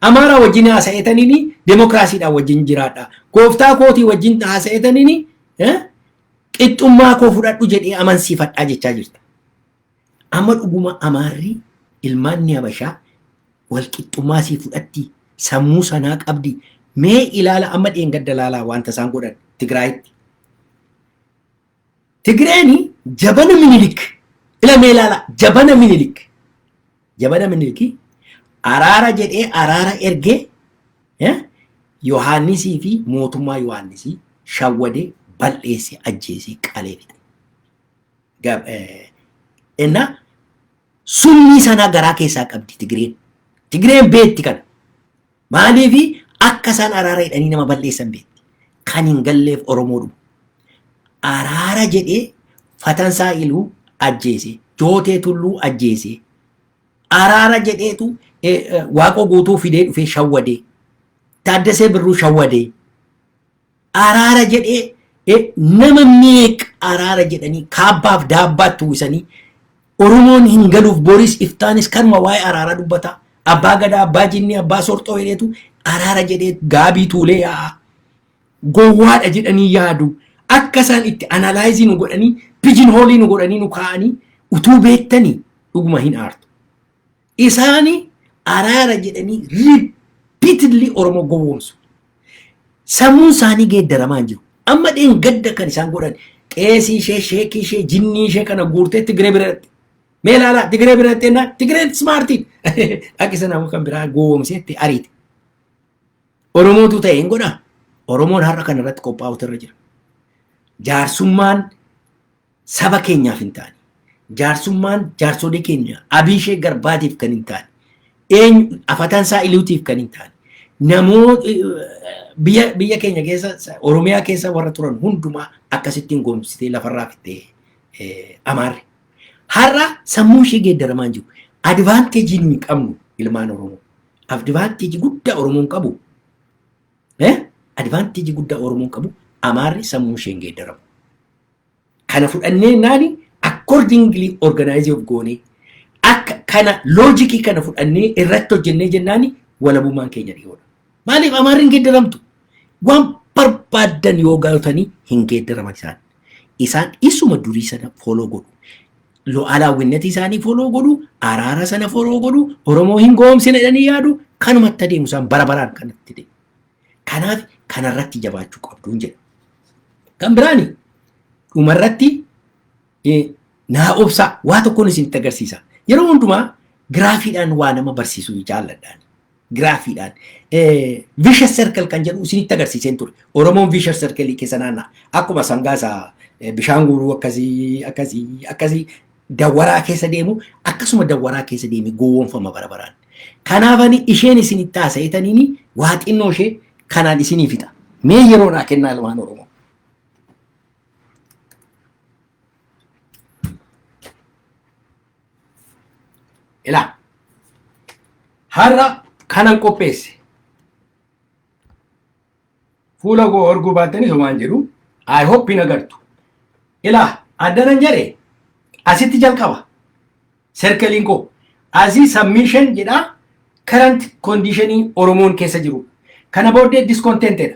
Amaaraa wajjin haasa'eetaniini demokiraasiidhaan wajjin jiraadha. Gooftaa kootii wajjin haasa'eetaniini qixxummaa koo fudhadhu jedhee amansiifadhaa jechaa jirta. Amma dhuguma Amaarri ilmaanni Habashaa walqixxummaa sii fudhatti sammuu sanaa qabdi mee ilaala amma dheengadda ilaalaa wanta isaan godhan Tigraayitti. Tigreeni jabana minilik ila mee ilaala jabana minilik jabana miniliki araara jedhee araara ergee eh, Yohaannisii fi mootummaa Yohaannisii shawwadee bal'eesse ajjeesee qalee fixe. Gab- eh, Ennaa summii sanaa garaa keessaa qabdi Tigireen. Tigireen beekti kana. Maaliif akka isaan araara jedhanii nama balleessan beekti. Kan hin galleef Oromoo dhufu. Araara jedhee Fatansaa Iluu ajjeese. Jootee Tulluu ajjeese. Araara jedheetu eh, eh, Waaqoo guutuu fidee dhufee shawwadee. Taaddasee Birruu shawwadee. araara jedhee eh, nama meeq araara jedhanii kaabbaaf daabbaatti uwwisanii Oromoon hin galuuf boris iftaanis kanuma waa'ee araaraa dubbata. Abbaa gadaa, abbaa jinnii, abbaa sorxoo jedheetu araara jedhee gaabii tuulee yaa'a. Gowwaadha jedhanii yaadu. Akka isaan itti analaayizii nu godhanii, pijin hoolii nu godhanii nu kaa'anii utuu beektanii dhuguma hin aartu. Isaani araara jedhanii repeatedly Oromoo gowwoomsu. Sammuun isaanii geeddaramaa hin jiru. Amma dheengadda kan isaan godhan qeesii ishee, sheekii ishee, jinnii ishee kana guurtee Tigiree bira dhaqxe. Mee ilaalaa Tigiree bira dhaqxee naa Tigireen smaartii dhaqi sana kan biraa gowwoomsee itti ariite. Oromootu ta'e hin godhaa. Oromoon har'a kana irratti qophaa'utu irra jira. Jaarsummaan saba keenyaaf hin taane. Jaarsummaan jaarsolii keenya Abiishee Garbaatiif kan hin taane. Eenyu afatansaa Iliutiif kan hin taane. Namoo biyya biyya keenya keessa Oromiyaa keessa warra turan hundumaa akkasittiin goomsitee lafarraa fittee amaarre. Har'a sammuu ishee geeddaramaa jiru. Advaanteejii nuyi qabnu ilmaan Oromoo. Advaanteejii guddaa Oromoon qabu. Advaanteejii guddaa Oromoon qabu amaarri sammuu isheen geeddaramu. Kana fudhannee naani accordingly organize of goonee akka kana loojikii kana fudhannee irratti hojjennee jennaani walabummaan keenya dhiyoodha. Maaliif amaarri hin geeddaramtu? Waan barbaaddan yoo galtanii hin geeddaraman isaan. Isaan isuma durii sana fooloo godhu. Lu'aalaawwinnati isaanii fooloo godhu, araara sana fooloo godhu, Oromoo hin goomsina jedhanii yaadu, kanumatti adeemu isaan bara baraan kanatti deemu. Kanaaf kanarratti jabaachuu qabduun jedha. Kan biraani dhumarratti naa obsaa waa tokkoon isinitti agarsiisa. Yeroo hundumaa giraafiidhaan waa nama barsiisuu jaalladhaan. Giraafiidhaan vicious circle kan jedhu isinitti agarsiiseen ture. Oromoon vicious circle keessa naanna'a. Akkuma sangaa isaa bishaan guuruu akkasii akkasii akkasii Dawwaraa keessa deemu akkasuma dawwaraa keessa deemee gowwoomfama bara baraan. Kanaaf ani isheen isin itti haasa'etaniini waa xinnoo ishee kanaan isinii fixa. Mee yeroo naa kennaa ilmaan Oromoo. Ilaa. Har'a kanan qopheesse. fuula koo arguu baattanii somaan jedhu I hope hin agartu. Ilaa addanan jedhe asitti jalqaba serkeliin koo asii submission jedha current conditionii Oromoon keessa jiru. Kana booddee discontentedha.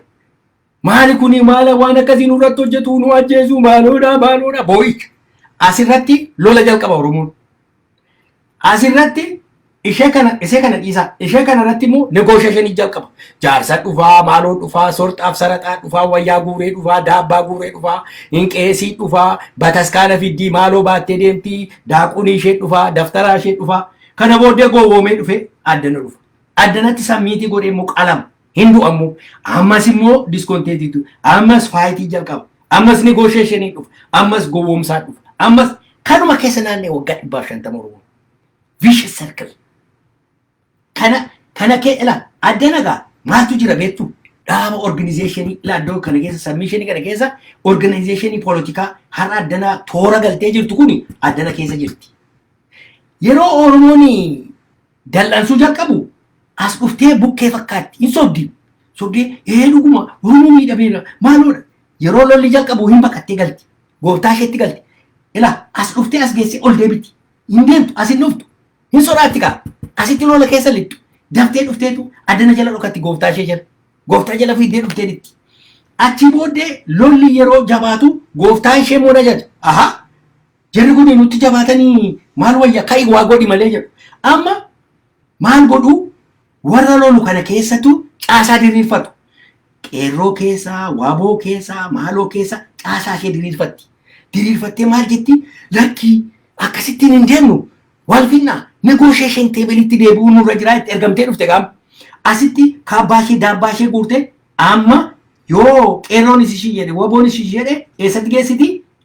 Maali kuni maala waan akkasii nurratti hojjetu nu ajjeesu maaloodha maaloodha boo'icha. Asirratti lola jalqaba Oromoon. As irratti ishee kana isee kana dhiisaa ishee kana irratti immoo negoosheeshinii jalqaba. Jaarsa dhufaa maaloo dhufaa sorxaaf saraxaa dhufaa wayyaa guuree dhufaa daabbaa guuree dhufaa hin qeesii dhufaa bataskaana fiddii maaloo baattee deemtii daaqunii ishee dhufaa daftaraa ishee dhufaa kana booddee gowwoomee dhufee addana dhufa. Addanatti sammiitii godhee immoo qalama. Hin du'a immoo. Ammas immoo discontentetu. Ammas faayitii jalqaba. Ammas negotiation dhufa. Ammas gowwoomsaa dhufa. Ammas kanuma keessa naannee waggaa dhibbaaf shantama Oromoo. Vicious circle. Kana kana kee ila adda nagaa maaltu jira beektu? Dhaaba organizationii ila addoo kana keessa submissionii kana keessa organizationii poolitikaa har'a addanaa toora galtee jirtu kuni addana keessa jirti. Yeroo Oromoon dal'ansuu jalqabu as dhuftee bukkee fakkaatti hin sobdi sobdee ee dhuguma oromoo miidhameera maaloodha yeroo lolli jalqabu hin baqattee galti gooftaa isheetti galti ila as dhuftee as geessee ol deebiti hin deemtu as hin dhuftu hin sodaatti kaa asitti lola keessa lixxu daftee dhufteetu addana jala dhokatti gooftaa ishee jala gooftaa jala fiiddee dhuftee dhitti achi booddee lolli yeroo jabaatu gooftaa ishee moona jedha ahaa Jarri kun nutti jabaatanii maal wayya ka'i waa godhi malee jedhu. Amma maal godhu warra lolu kana keessattu caasaa diriirfatu. Qeerroo keessaa, waaboo keessaa, maaloo keessaa caasaa ishee diriirfatti. Diriirfattee maal jetti lakkii akkasittiin hin deemnu wal finnaa negotiation teebelitti deebi'uu nurra jiraa itti ergamtee dhufte gaam. Asitti kaabbaa ishee daabbaa ishee guurte amma yoo qeerroonis ishii jedhe waboonis ishii jedhe eessatti geessiti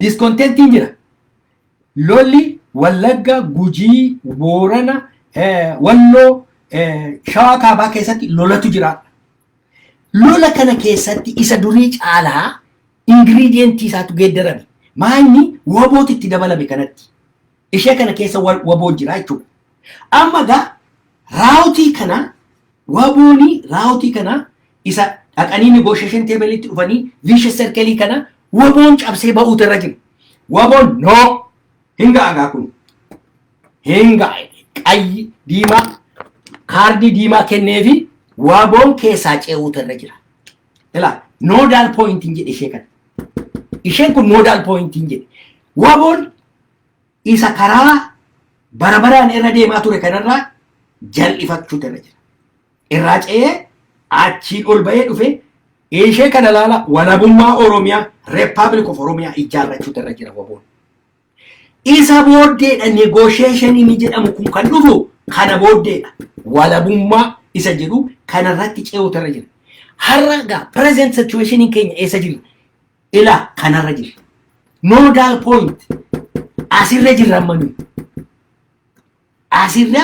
Diskontentiin jira. Lolli Wallagga, Gujii, Boorana, Walloo, Shawaa Kaabaa keessatti lolatu jira. Lola kana keessatti isa durii caalaa ingiriidiyentii isaatu geeddarame. Maayini wabooti itti dabalame kanatti. Ishee kana keessa waboo jira jechuudha. Amma egaa raawutii kana wabooni raawutii kana isa dhaqanii negotiation table'itti dhufanii vicious circle kana waboon cabsee ba'uutu irra jira. Waboon no hin ga'a gaa kun hin ga'a qayyi diimaa kaardii diimaa kenneefi waboon keessaa ce'uutu irra jira. Ilaa nodal point hin jedhe ishee kana. Isheen kun nodal point hin jedhe. Waboon isa karaa bara baraan irra deemaa ture kanarraa jal'ifachuutu irra jira. Irraa ce'ee achiin ol ba'ee dhufe ishee kana laala walabummaa Oromiyaa Republic of Oromiyaa ijaarrachuutu irra jira waboon. Isa booddeedha negotiation inni jedhamu kun kan dhufu kana booddeedha. Walabummaa isa jedhu kanarratti ce'uutu irra jira. Har'a egaa present situation keenya eessa jirra? Ila kanarra jirra. Nodal point asirra jirra amma nuyi. Asirra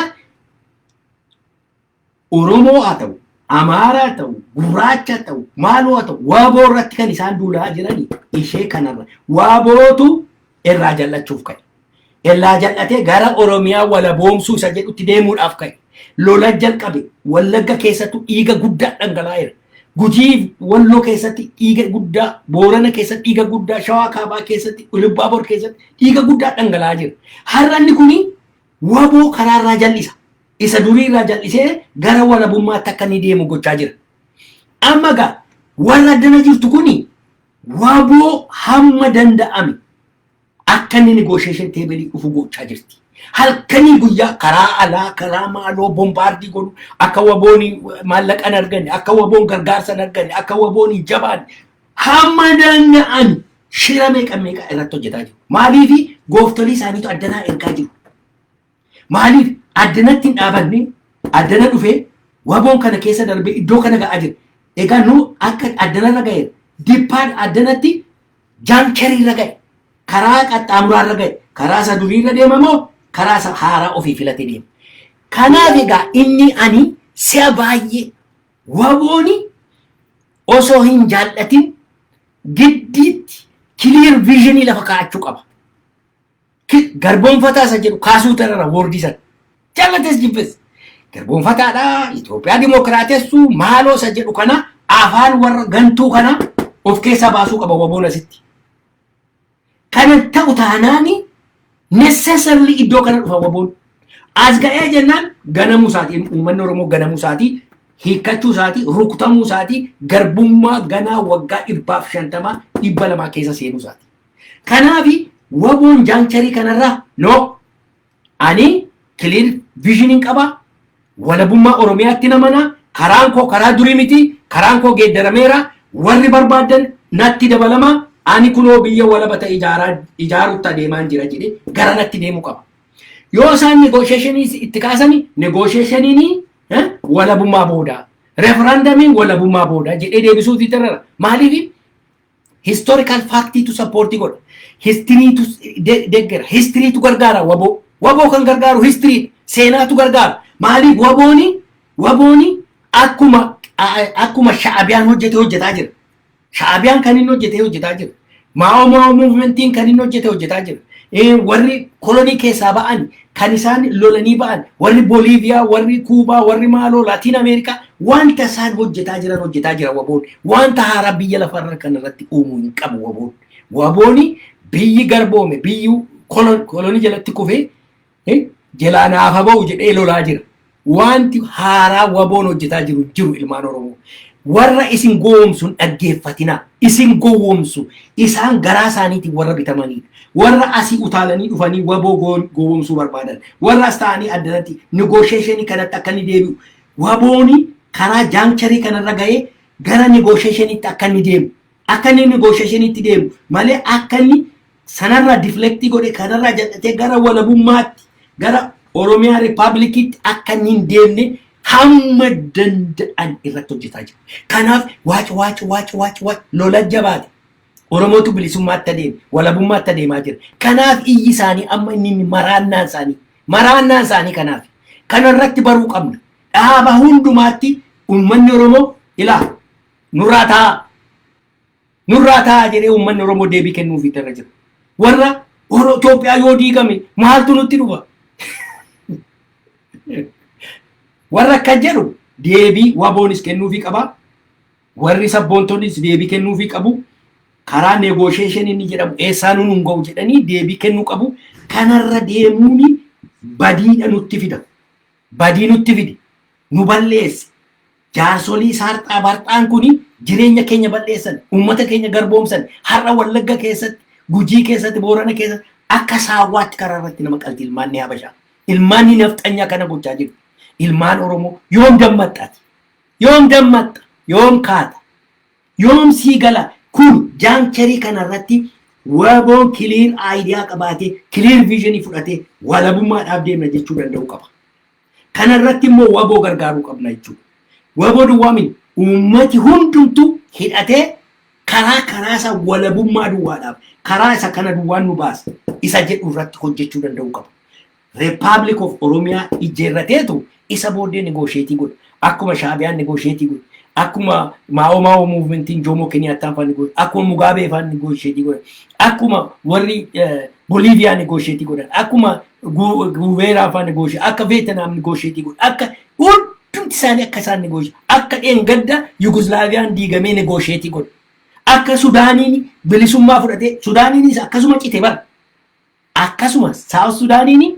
Oromoo haa ta'u, Amaaraa haa ta'u, Gurraacha haa ta'u, maaloo haa ta'u, waaboo irratti kan isaan duulaa jirani ishee kanarra. Waabootu irraa jallachuuf ka'e. Irraa jal'atee gara Oromiyaa walaboomsuu isa jedhutti deemuudhaaf ka'e. Lola jalqabe. Wallagga keessattu dhiiga guddaa dhangalaa'eera. Gujii Walloo keessatti dhiiga guddaa, Boorana keessatti dhiiga guddaa, Shawaa Kaabaa keessatti, Ilubbaabor keessatti dhiiga guddaa dhangala'aa jira. Har'a inni kuni waboo karaa irraa jal'isa. Isa durii irraa jal'isee gara walabummaatti akka inni deemu gochaa jira. Amma egaa warra addana jirtu kuni waboo hamma danda'ame Akka inni negotiation table dhufu gochaa jirti. Halkanii guyyaa karaa alaa karaa maaloo bombaardii godhu akka waboon maallaqa hin arganne akka waboon gargaarsa hin arganne akka waboon hin jabaanne hamma danda'an shira meeqa meeqa irratti hojjetaa jiru. Maaliifi gooftolii isaaniitu addanaa ergaa jiru. Maaliif addanatti hin dhaabanne addana dhufee waboon kana keessa darbee iddoo kana ga'aa jira. Egaa nu akka addanarra ga'eera. Dippaad addanatti jaankeriirra ga'e. Karaa qaxxaamuraarra ga'e. Karaa isa duriirra deema moo karaa isa haaraa ofii filate deema. Kanaaf egaa inni ani si'a baay'ee wabooni osoo hin jaallatin giddiitti kiliir viizhinii lafa kaa'achuu qaba. Ki- garboonfataa isa jedhu kaasuu tanarra woordii sana jallates jibbes garboonfataadha Itoophiyaa dimookiraatessuu maaloo isa jedhu kana afaan warra gantuu kana of keessaa baasuu qaba waboon asitti. Kana ta'u taanaani necessarily iddoo kana dhufa waboon. As ga'ee jennaan ganamuu isaatii uummanni Oromoo ganamuu isaatii hiikkachuu isaatii rukutamuu isaatii garbummaa ganaa waggaa dhibbaaf shantamaa dhibba lamaa keessa seenuu isaatii. Kanaafi waboon jaancharii kanarraa no ani clear vision hin qaba walabummaa Oromiyaatti namana karaan koo karaa durii miti karaan koo geeddarameera warri barbaaddan natti dabalama ani kunoo biyya walaba ta'e ijaaraa ijaarutti adeemaan jira jedhe gara natti deemuu qaba. Yoo isaan negoosheeshinii itti kaasani negoosheeshiniin walabummaa booda referandamiin walabummaa booda jedhee deebisuu fi tarara maaliif Historical fact tu support godha. History tu de- deggera. History tu gargaara waboo. Waboo kan gargaaru history dha. Seenaa tu gargaara. Maaliif wabooni wabooni akkuma a- akkuma sha'abiyaan hojjete hojjetaa jira. Sha'abiyaan kan inni hojjete hojjetaa jira. Maa'oo maa'oo muuvimentiin kan inni hojjete hojjetaa jira. Eh, Warri kolonii keessaa ba'an kan isaan lolanii ba'an warri Boliiviyaa, warri Kuubaa, warri maaloo Laatiin Ameerikaa wanta isaan hojjetaa jiran hojjetaa jira waboon. Wanta haaraa biyya lafarra kan irratti uumuu hin qabu waboon. Wabooni biyyi garboome biyyi kolon- kolonii jalatti kufee eh, jelaa naafa ba'u jedhee lolaa jira. Waanti haaraa waboon hojjetaa jiru hin jiru ilmaan Oromoo. Warra isin gowwoomsu hin dhaggeeffatinaa. Isin gowwoomsu. Isaan garaa isaaniitiin warra bitamaniidha. Warra asii utaalanii dhufanii waboo go- gowwoomsuu barbaadan. Warra as taa'anii addanatti negotiation kanatti akka inni deebi'u. Wabooni karaa jaankcharii kanarra ga'ee gara negotiationitti akka inni deemu. Akka inni inni goosha isheniitti deemu malee akka inni sanarraa diflektii godhe kanarraa jal'atee gara walabummaatti gara Oromiyaa Rippaablikiitti akka inni hin deemne hamma danda'an irratti hojjetaa jiru. Kanaaf waac waac waac waac waac lola jabaate. Oromootu bilisummaatti adeeme, walabummaatti adeemaa jira. Kanaaf iyyi isaanii amma inni inni maraannaan isaanii, maraannaan isaanii kanaaf. Kanarratti baruu qabna. Dhaaba hundumaatti uummanni Oromoo ilaa nurraa taa'aa nurraa taa'aa jedhee uummanni Oromoo deebii kennuuf itti irra jira. Warra Oro- Itoophiyaa yoo diigame maaltu nutti dhufa? Warra akkas jedhu deebii waboonis kennuufii qaba. Warri sabboontonnis deebii kennuufii qabu. Karaa negoosheeshin inni jedhamu eessaa nuun hin ga'u jedhanii deebii kennuu qabu. Kanarra deemuuni badiidha nutti fida. Badii nutti fidi. Nu balleessi. Jaarsolii saarxaa barxaan kun jireenya keenya bal'eessan, uummata keenya garboomsan, har'a Wallagga keessatti, Gujii keessatti, Boorana keessatti akka saawwaatti karaa irratti nama qalti ilmaan ni habashaa. Ilmaan ni nafxanyaa kana gochaa jirti. Ilmaan Oromoo yoom dammaxxati? Yoom dammaxxa? Yoom kaata? Yoom sii gala? Kun jaancherii kana irratti waboon kiliir aayidiyaa qabaatee, kiliir viizhinii fudhatee walabummaadhaaf deemna jechuu danda'uu qaba. Kana irratti immoo wbo gargaaruu qabna jechuudha. Wbo duwwaa miti uummati hundumtuu hidhatee karaa karaa isaa walabummaa duwwaadhaaf karaa isa kana duwwaan nu baasa isa jedhu irratti hojjechuu danda'uu qaba. Republic of Oromia ijjeerrateetu isa booddee negoosheetii godha. Akkuma Shaabiyaan negoosheetii godha. Akkuma Maa'oo Maa'oo muuvimentiin Joomoo Keniyaattaan fa'aa negoosheetii godha. Akkuma Mugaabee fa'aa negoosheetii godha. Akkuma warri Boliiviyaa negoosheetii godhan. Akkuma guuveeraa afaan negooshe akka veetinaam negoosheetii godhe akka hundumti isaanii akka isaan negooshe akka dheengadda yuguslaaviyaan diigamee negoosheetii godhe akka sudaaniin bilisummaa fudhatee sudaaniinis akkasuma cite bara akkasuma saawus sudaaniin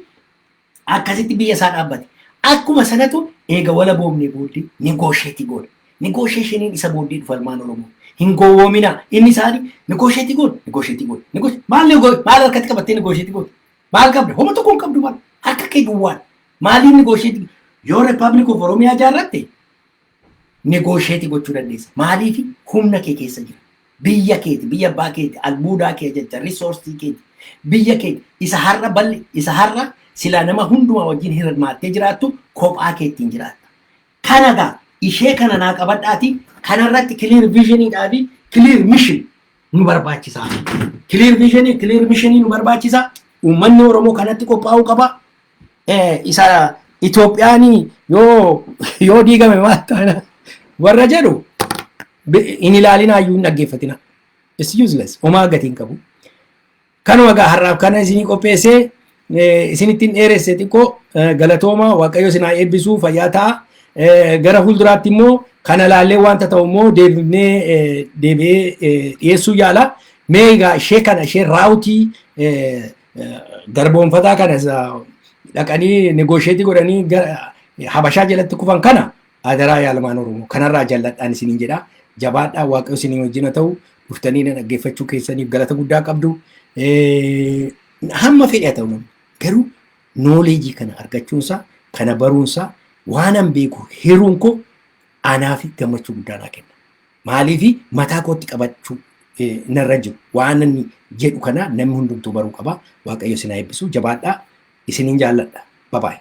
akkasitti biyya isaa dhaabbate akkuma sanatu eega wala boomnee booddee negoosheetii godhe negoosheeshiniin isa booddee dhufa ilmaan oromoo hin gowwoominaa inni isaanii negoosheetii godhe negoosheetii godhe maal maal harkatti qabattee negoosheetii godhe Maal qabda? Homa tokko hin qabdu maal? Harka kee duwwaan. Maaliin negoosheetii? Yoo Rippaabilik of Oromiyaa ijaarratte negoosheetii gochuu dandeessa. Maaliif humna kee keessa jira. Biyya keeti, biyya abbaa keeti, albuudaa kee jecha, risoorsii keeti. Biyya keeti isa har'a balli, isa har'a silaa nama hundumaa wajjin hirmaattee jiraattu kophaa keettiin jiraatta. Kana gaa ishee kana naa qabadhaati kanarratti clear vision dhaa fi clear mission nu barbaachisa. Clear vision clear mission nu barbaachisa. Uummanni Oromoo kanatti qophaa'uu qaba. Eh, Isa Itoophiyaan yoo yoo diigame maal taana warra jedhu bi- hin ilaalinaa iyyuu hin dhaggeeffatina. It's useless. Homaa gatii hin qabu. Kanuma egaa har'aaf kana isinii qopheessee eh, isinittiin dheeresse xiqqoo eh, galatooma waaqayyo isin haa eebbisuu fayyaa ta'a. Eh, Gara fuulduraatti immoo kana laallee wanta ta'u immoo deebifnee eh, deebi'ee eh, dhiyeessuu yaala. Mee egaa ishee kana ishee raawutii eh, eh, garboomfataa kana isa dhaqanii negoosheetii godhanii gara- habashaa jalatti kufan kana Adaraa yaa ilmaan Oromoo kanarraa jalladhaan isiniin jedha. Jabaadhaa waaqayyo isinii wajjin haa ta'u. Dhuftanii na dhaggeeffachuu keessaniif galata guddaa qabdu. Hamma fedhe haa ta'u namni garuu nooleejii kana argachuunsaa kana baruunsaa waanan beeku hiruun koo anaaf gammachuu guddaa naa kenna. Maaliif mataa kootti qabachuu narra jiru waan inni jedhu kana namni hundumtuu baruu qaba. Waaqayyo isin haa eebbisu jabaadhaa. Isinin jaalladha. Bye bye.